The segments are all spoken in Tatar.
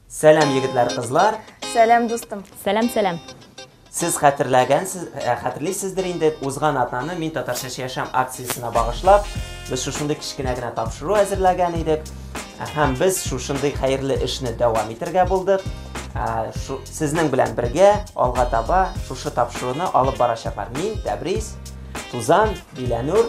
Сәлам, егетләр, кызлар. Сәлам, дустым. Сәлам, сәлам. Сез хәтерләгәнсез, э, хәтерлисездер инде, узган атнаны мин татарча яшәм акциясенә багышлап, без шушындый кечкенә генә тапшыру әзерләгән идек. Э, һәм без шушындый хәерле эшне дәвам итергә булдык. Э, шу, сезнең белән бергә алга таба шушы тапшыруны алып барачаклар. Мин Тәбрис, Тузан, Биләнур.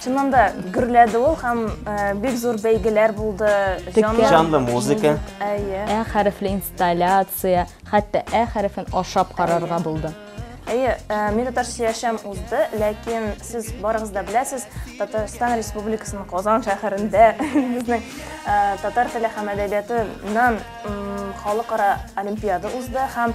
Чыннан да гөрләде ул һәм э, бик зур бәйгеләр булды. Текә. Жанлы музыка. Әйе. Ә хәрефле инсталляция, хәтта ә хәрефен ашап карарга булды. Әйе, э, мин татар сөяшәм узды, ләкин сез барыгыз да беләсез, Татарстан Республикасының Казан шәһәрендә безнең э, татар теле һәм әдәбиятыннан м, халыкара олимпиада узды һәм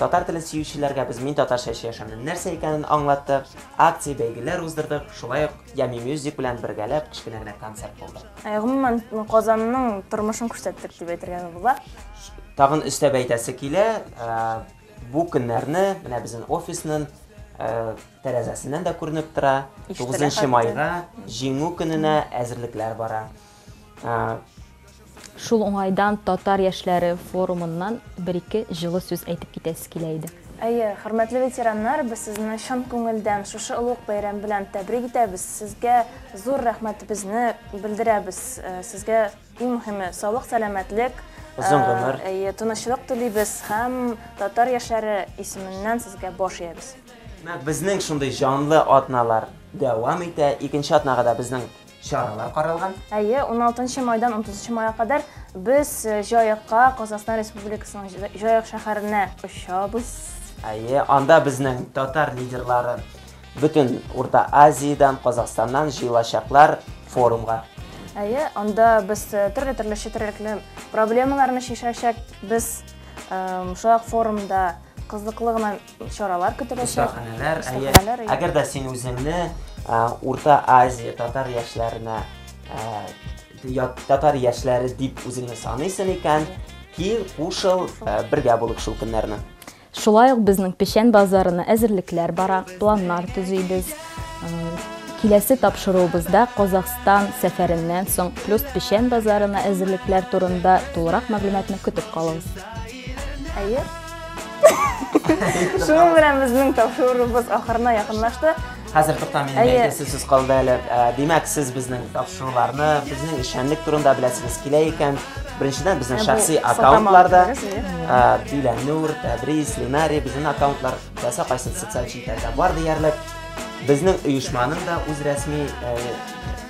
Татар телен сөючеләргә без Мин татарча эчә яшәмнең нәрсә икәнен аңлаттык, акция, бәйгеләр уздырдык, шулай ук Ями Music белән бергәләп кечкенә генә концерт булды. Гомумән, Казанның тормышын күрсәттек дип әйтергә була. Тагын өстәп әйтәсе килә, бу көннәрне менә безнең офисның тәрәзәсеннән дә күренеп тора, 9 майга, Җиңү көненә әзерлекләр бара. Шул уңайдан татар яшьләре форумыннан бер-ике җылы сүз әйтеп китәсе килә иде. Әйе, хөрмәтле ветераннар, без сезне чын күңелдән шушы олуг бәйрәм белән тәбрик итәбез, сезгә зур рәхмәтебезне белдерәбез, сезгә, иң мөһиме, саулык-сәламәтлек, озын гомер, әйе, тынычлык телибез һәм татар яшьләре исеменнән сезгә баш иябез. Менә безнең шундый җанлы атналар дәвам итә. Икенче атнага да безнең чаралар каралган. Әйе, 16 майдан 30 майга кадәр без э, Җаекка, Казахстан Республикасының Җаек шәһәренә очабыз. Әйе, анда безнең татар лидерлары бөтен Урта Азиядән, Казахстаннан җыелачаклар форумга. Әйе, анда без э, төрле-төрле четерекле проблемаларны шешәчәк. Без э, шулай форумда кызыклы гына чаралар көтеләчәк. Остаханәләр, әйе. Әгәр дә син үзеңне Урта Азия татар яшьләренә татар яшьләре дип үзеңне саныйсың икән, кил, кушыл, бергә булып шул көннәрне. Шулай ук безнең печән базарына әзерлекләр бара, планнар төзибез. Киләсе тапшыруыбызда Казахстан сәфәреннән соң плюс печән базарына әзерлекләр турында тулырак мәгълүматны көтеп калыгыз. Әйе. Шуның белән безнең тапшыруыбыз ахырына якынлашты. Хәзер тукта минем Әйе. әйтәсе сүз калды әле. Ә, Димәк, сез безнең тапшыруларны, безнең эшчәнлек турында беләсегез килә икән. Беренчедән безнең Ә бу шәхси сылтама аккаунтларда алып керегез, әйе. ә, Диләнур, Тәбрис, Линари безнең аккаунтлар теләсә кайсы социаль челтәрдә бар диярлек. Безнең оешманың да үз рәсми ә,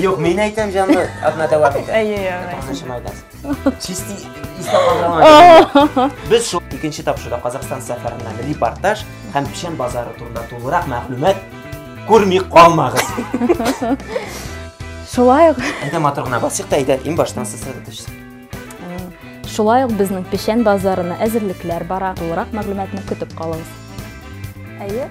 Юк, мин әйтәм җанлы, атна дәвам итә. Әйе, әйе. Аннан майдас. Чисти искә калган. Без шул икенче тапшыруда Казахстан сәфәреннән репортаж һәм печән базары турында тулырак мәгълүмат күрми калмагыз. Шулай ук. Әйдә матур гына басыйк та әйдә, иң баштан сосредоточься. Шулай ук безнең печән базарына әзерлекләр бара. Тулырак мәгълүматны көтеп калыгыз. Әйе.